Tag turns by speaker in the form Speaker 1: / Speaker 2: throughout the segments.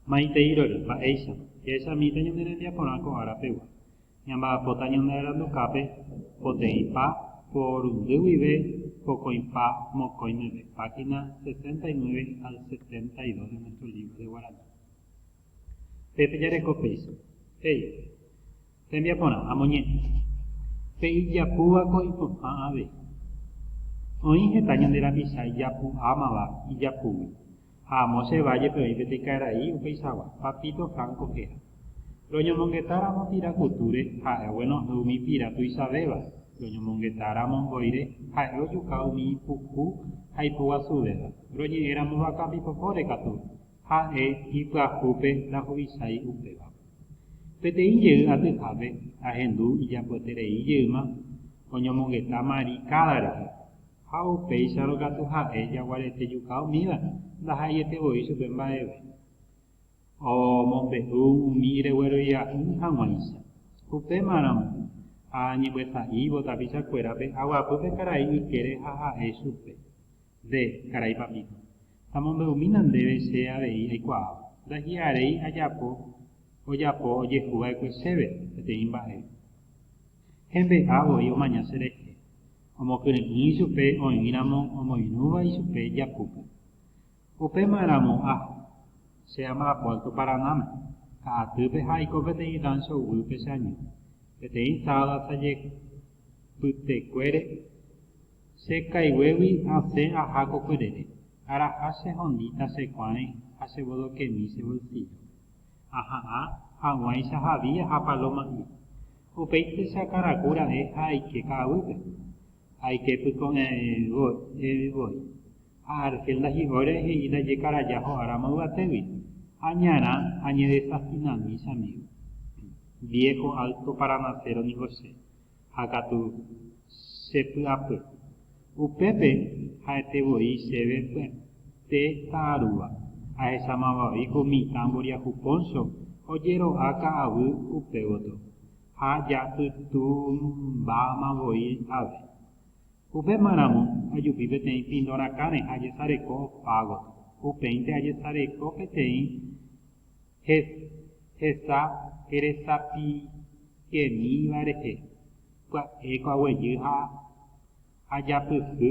Speaker 1: Maiteirory, mba'éicha, jahechamíta ñane rembiaporã ko ára pegua. Ñamba'apóta ñanearandukápe poteĩ pa porundy guive pokõi pa mokõi meve, página 69 al 72 de Nuestro Libro de Guaraní. Pe pejareko péicha, he'i, Rembiaporã, amoñe'ẽ. Pe ijapúva ko ipo'ã avei. Oĩ heta ñande rapicha ijapu'ámava ijapúgui, ha amo che válle pe oĩ peteĩ karai upeicháva, papito franco héra. Roñomongeta ramo pira kutúre, ha'e oguenohẽ umi pira tuichavéva, roñomongeta ramo mboyre, ha'e ojuka umi ipuku ha ipoguasuvéva, roñe'ẽ ramo vaka pipopóre katu, ha'e ipyahúpe rahuvichái upéva. Peteĩ jey atyhápe, ahendu ijapoeterei jeýma oñomongeta mari káda rehe. Ha upéicharõ katu ha'e jaguarete juka umíva ndaha'eiete voi chupe mba'eve. Omombe'u umi regueroia'ỹ hag̃uáicha. Upéma ramo, ha añembyasa'ívo tapicha kuérape aguapy pe karai ykére ha ha'e chupe, Nde, karai papíto, tamombe'umína ndéve che avei aikuaáva. Ndahi'aréi ajapo ojapo ojehu va'ekue chéve peteĩ mba'e. Hembe'a voi omaña cherehe. omokyre'ỹ ichupe oĩramo omoirũva ichupe Jakúpe. Upéma ramo aja, che ama apuerto Paranáme, ka'atýpe ha aiko peteĩ ráncho guýpe che año, peteĩ sábado asajepytekuére. Che kaiguégui asẽ aja ko kyrére, araha chehondíta che kuãre ha chevodokemi che bolsíllópe. Aha'ã hag̃uáicha Javier ha Paloma'i. Upéicha karaku ra'e ha aike ka'aguýpe. Aike pyko'ẽvoi voi. Ha Argel ndahi'óire he'i ndajekaraja ho'áramo yvatégui. Añarã añedesafinami chamígo. Viejo alto paranasero ningo che. ha katu che py'apy. Upépe ha'ete voi chéve py'aite ta'arúva, ahechámava voi ko mitã mboriahu póncho ojero'a ka'avy upe gotyo, ha japytũmbáma voi ave. Upéma ramo ajupi peteĩ pindorãkãre ha ajesareko opa gotyo. Upéinte ajesareko peteĩ Hes, hesa heresapikemíva rehe, pya'éko aguejy ha ajapysy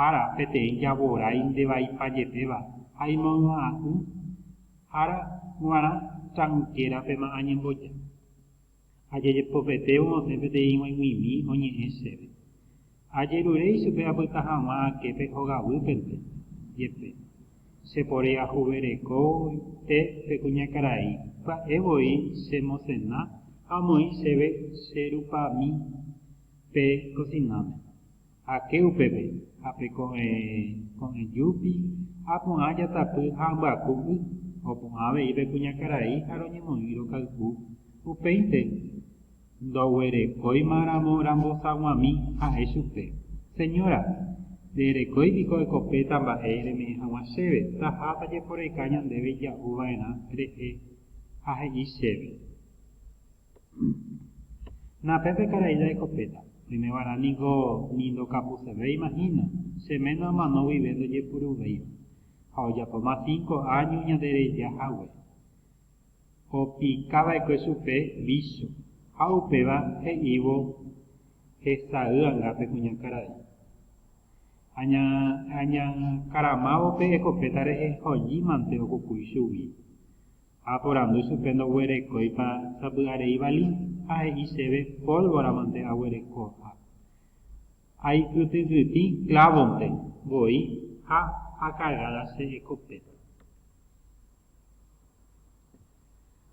Speaker 1: ára peteĩ javorái nde vaipa jepéva ha imoy'a'ỹ ára g̃uarã tranquera-pema añemboja. Ha jajepopete omosẽ peteĩ g̃uaig̃uimi oñe'ẽ chéve. Ajerure ichupe apyta hag̃ua aképe hogaguýpente, jepe. Che pórei ajuverekóinte pe kuñakarai, pya'e voi che mosẽna ha omoĩ chéve che rupami pe kosináme. Ake upépe, ha pe ko'ẽ ko'ẽ júpi, ha porã jatapy ha ambyaku y, oporã avei pe kuñakarai ha roñemoĩ rokay'u. Upéinte, ndoguerekóima ramo rambosaguãmi, ha'e chupe, Señora, rerekói piko ekopéta mba'e reme'ẽ haguã chéve, taha tajeporeka ñandéve ija'u va'erã rehe ha he'i chéve. Na pe pe karai jaikopéta. Oimeva'erã niko ni ndokapusevéima hína, che ména omano guive ndojepuruvéiva. Ha ojapóma cinco áño ñande reja hague. Opika va'ekue chupe vícho, ha upéva he'ívo hesay anga pe kuña karai. Aña, añakaramávo pe ekopéta rehe hoji mante okukúi chugui. Ha oporandu chupe ndoguerekóipa sapy'arei vali, ha he'i chéve, Pólvoramante aguereko, ha aikytykytĩ klávonte voi ha akagáda che ekopéta.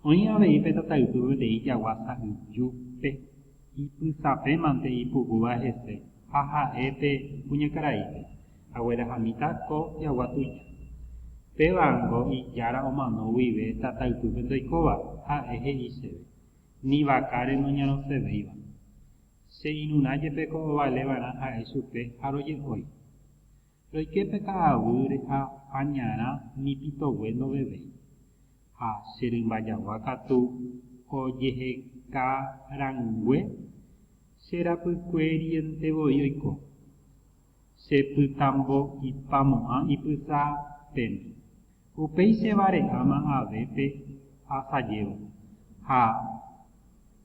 Speaker 1: Oĩ avei pe tataypy peteĩ jagua sa'y júpe ipysapémante ipukúva hese. ha ha'e pe kuñakaraípe, Aguerahamíta ko jagua tuja. Pévango ijára omano guive tataypýpe ndoikóva, ha'e he'i chéve, Ni vakáre noñarõsevéiva. Che irũrã jepe ko ovale va'erã ha'e chupe ha roje'ói. Roike pe ka'aguýre ha añarã ni pitogue ndovevéi. Ha che rymba jagua katu ojeheka rangue. Che rapykueriente voi oiko. Che pytambo ipamo'ã ipysa pene. Upéi che vare'áma avépe asajévo. Ha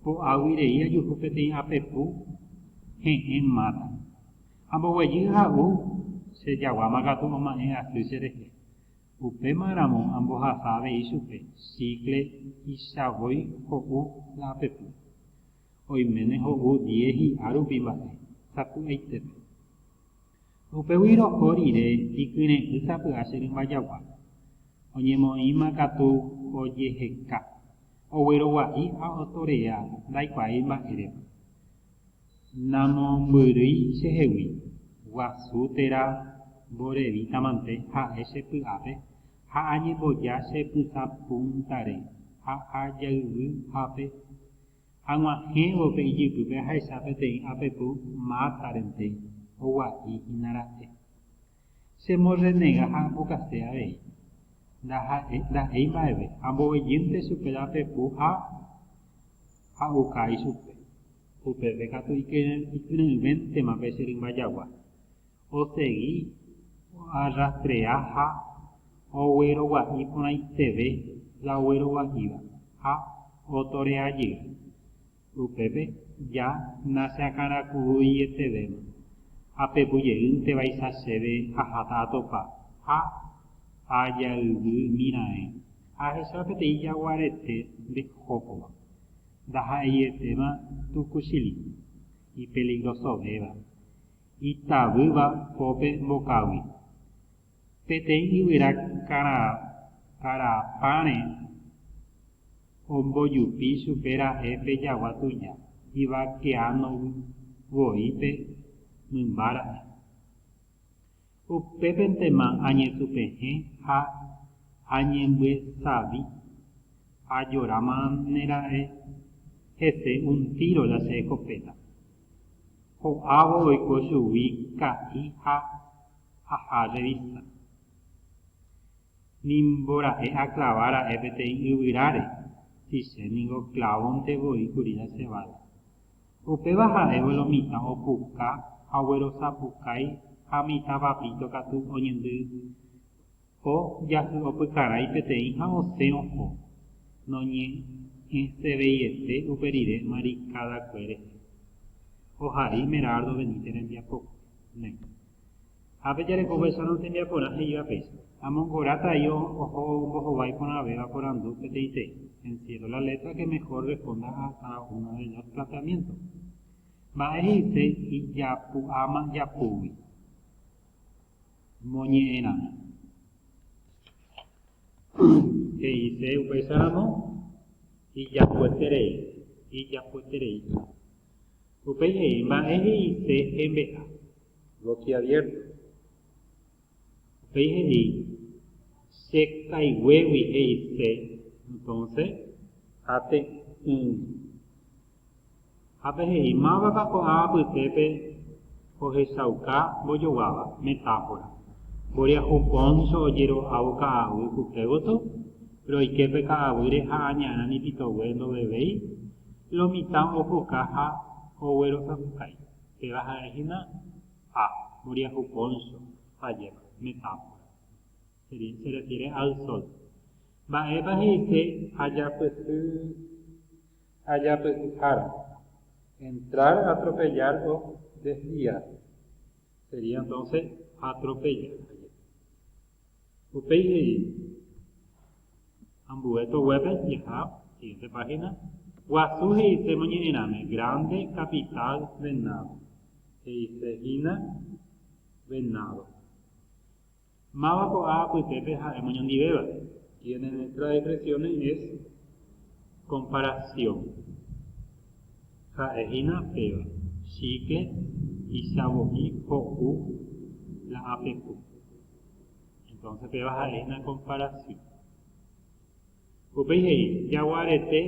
Speaker 1: po'águi rei ajuhu peteĩ apepu he'ẽ máta. Amboguejy ha'u che jaguáma katu oma'ẽ asy che rehe. Upéma ramo ambohasa avei chupe chíkle ichavoi ho'u la apepu. oiméne ho'u diez hi'a rupi mba'e sapy'aitépe. Upégui roho rire ikyre'ỹ sapy'a che rymba jagua, oñemoĩma katu ojeheka, oguerogua'i ha otorea ndaikuaái mba'érepa. Namombyrýi chehegui, guasu térã mborevítãmante ha'e che py'ápe ha añemboja che pysa púntare ha ajayvy ápe Ag̃uahẽvo pe ijypýpe ahecha peteĩ apepu mátarente oguahĩ hína ra'e. Chemorrenega ha ambokase avei. Ndaha'e, nda'éi mba'eve, ambovejýnte chupe la apepu ha a'uka ichupe. Upépe katu ikyre'ỹvéntema pe che rymba jagua. osegi oarrastrea ha oguerogua'i porãiteve la oguerogua'íva ha otorea jey. Upépe ja nachakãraku'uietevéma, apepu jeýntevaicha chéve aháta atopa ha ajayvymiraẽ. Ahecha peteĩ jaguarete nde hókova, ndaha'eietéma tukuchili, ipeligrosovéva, Itavýva pópe mbokaguy. Peteĩ yvyra kara'apãre ombojupi chupe ra'e pe jagua tuja ivakeano voípe mymba ra'e. Upépentema añetupehẽ ha añembyesavi, ajorámane ra'e hese un tíro la che eskopéta. ho'ávo oiko chugui ka'i ha aja revista. Ni mbora'e aklava ra'e peteĩ yvyráre, si che ningo klávonte voi kuri jaseváta. Upéva ha'évo lo mitã opuka ha oguerosapukái ha mitã papito katu oñendy Ko jahy'opykarái peteĩ ha osẽ oho, noñe'ẽseveiete upe rire marikadakue rehe. Ohai Merardo Benítez rembiapópe. Nde. Ha pejareko vaicha no tembiaporã he'íva péicha. Amongorata ahí oho ombohovái porãvéva porandu peteĩteĩ, encierro la letra que mejor responda a cada uno de los planteamientos. Mba'e he'ise ijapu'áma japúgui. moñe'ẽramo. He'ise upéicharamo, Ijapoeterei, ijapoeterei. Upéi he'i, Mba'e he'ise hembe'a? Boquiabierto. Upéi he'i, Chekaiguégui he'ise, entonce, ate'ỹgui. Ha pe he'i, Mávapa ko'ã apytépe ohechauka mbojoguáva? Metáfora. Mboriahu póncho ojero'ávo ka'aguy kupe gotyo, roike pe ka'aguýre ha añarã nipitogue ndovevéi, lo mitã opuka ha oguerosapukái. Péva ha'e hína A. Mboriahu póncho vajépa. Metáfora. Se refiere al sol. Mba'épa he'ise ajapysy? ajapyhyhára, entrar a atropellar o desviar, sería entonces atropellar ajepi. Upéi he'i, ambue toguépe jaha, siguiente página, Guasu he'ise moñe'ẽrãme, grande capital venado, he'ise hína venado. Máva ko'ã apytépe ha'e moñondivéva? Tiene nuestras expresiones es comparación. Ha'e hína péva, chicle, ichavo'i, ho'u, la apepu. Entonces péva ha'e hína comparación. Upéi he'i, jagua rete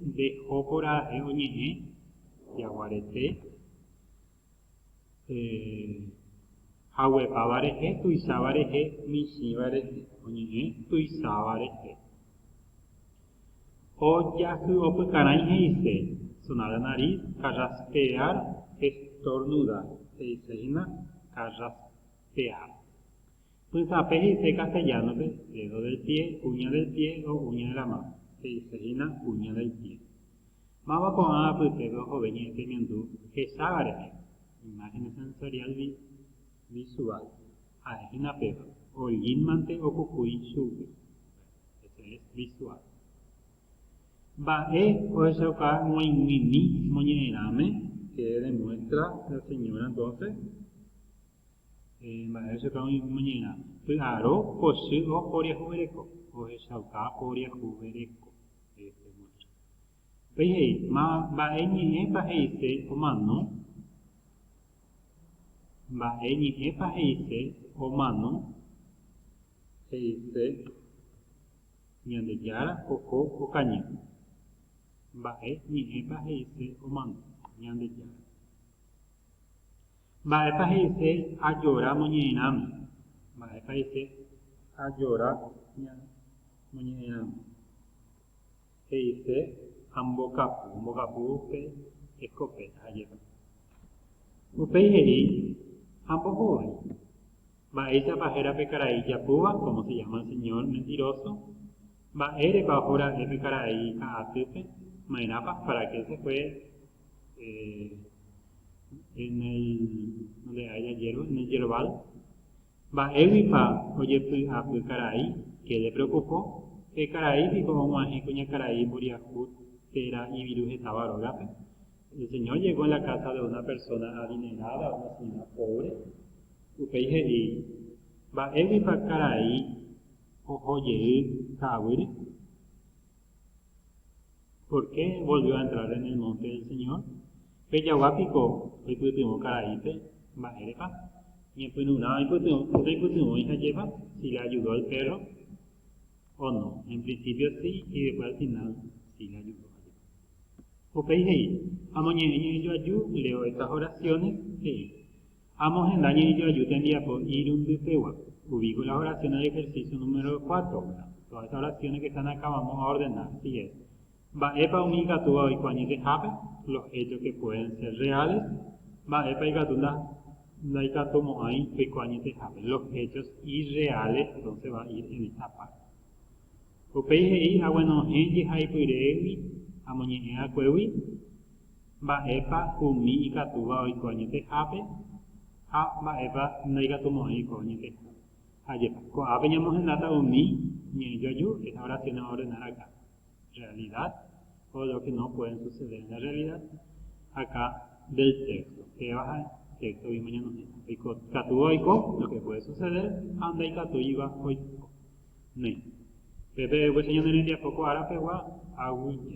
Speaker 1: nde jópora ha'e oñe'ẽ, jagua rete. haguepáva rehe, tuicháva rehe, michĩva rehe, oñe'ẽ tuicháva rehe. Ojahy'opykarãi he'ise, sonar la nariz, carraspear, estornudar, he'ise hína carraspear. Pytãpe he'ise castellano-pe, dedo del pie, uña del pie o uña de la mano, he'ise hína uña del pie. Máva ko'ã apytépe ohove ñe'ẽ teñandu hesáva rehe, imágenes sensorial visual, ha'e hína péva, ollínmante opukúi chugui, ese es visual. Mba'e ohechauka g̃uaig̃uimi moñe'ẽrãme, que demuestra la señora entonces? Mba'e Chupe oĩ omoñe'ẽrã. Py'aro pochy o poriahuvereko. Ohechauka poriahuvereko. Upéi he'i, Ma, mba'e ñe'ẽpa he'ise omano? Mba'e ñe'ẽpa he'ise omano? He'ise, Ñandejára oho okañy. Mba'e ñe'ẽpa he'ise omano? Ñandejára. Mba'épa he'ise ajora moñe'ẽrãme? Mba'épa he'ise ajora moñe'ẽrãme? He'ise ambokapu, ambokapu pe eskopéta ha jepa. Upéi he'i, Ambohovái. Mba'éichapa héra pe karai ijapúva, cómo se llama el señor mentiroso? Mba'érepa ohora'e pe karai ka'atýpe? Maerãpa? Para qué se fue en el oleae jajero en el yerbal mba'éguipa ojepy'apy karai que de preocupo pe karai piko omo'ãhe kuñakarai mboriahu térã iviru hetáva rógape el señor llegó en la casa de una persona adinerada a una señora pobre upéi he'i mba'éguipa karai oho jey ka'aguýre Pórke volvió a entrar en el monte del Señor? Pe jagua piko oipytyvõ karaípe, mba'érepa? Ñepyrũrã oipytyvõi hajépa, si le ayudó al perro o no. En principio sí, y después al final sí le ayudó jajépa. Upéi he'i, Amoñe'ẽ ñe'ẽjoaju, leo estas oraciones, he'i. Ha amohenda ñe'ẽjoaju tembiapo irundypegua, uviko las oraciones de ejercicio número cuatro, ¿verdad? Todas esas oraciones que están acá vamos a ordenar, así es. Mba'épa umi ikatúva oiko añetehápe, los hechos que pueden ser reales, mba'épa ikatu nda, ndaikatumo'ãi oiko añetehápe, los hechos irreales, entonces va a ir en esta parte. Upéi he'i aguenohẽ jehaipyréegui amoñe'ẽ akuégui, Mba'épa umi ikatúva oiko añetehápe ha mba'épa ndaikatumo'ãi oiko añetehápe? Ajépa, ko'ápe ñamohendáta umi ñe'ẽ joaju, estas oraciones van a ordenar acá, realidad o lo que no pueden suceder en la realidad, acá del texto, péva ha téxtogui oñemoñe'ẽ, oikatúva oiko, lo que puede suceder, ha ndaikatúiva oiko. Néi, pe pe'ẽguéicha ñane rembiapo ko ára pegua, aguyje.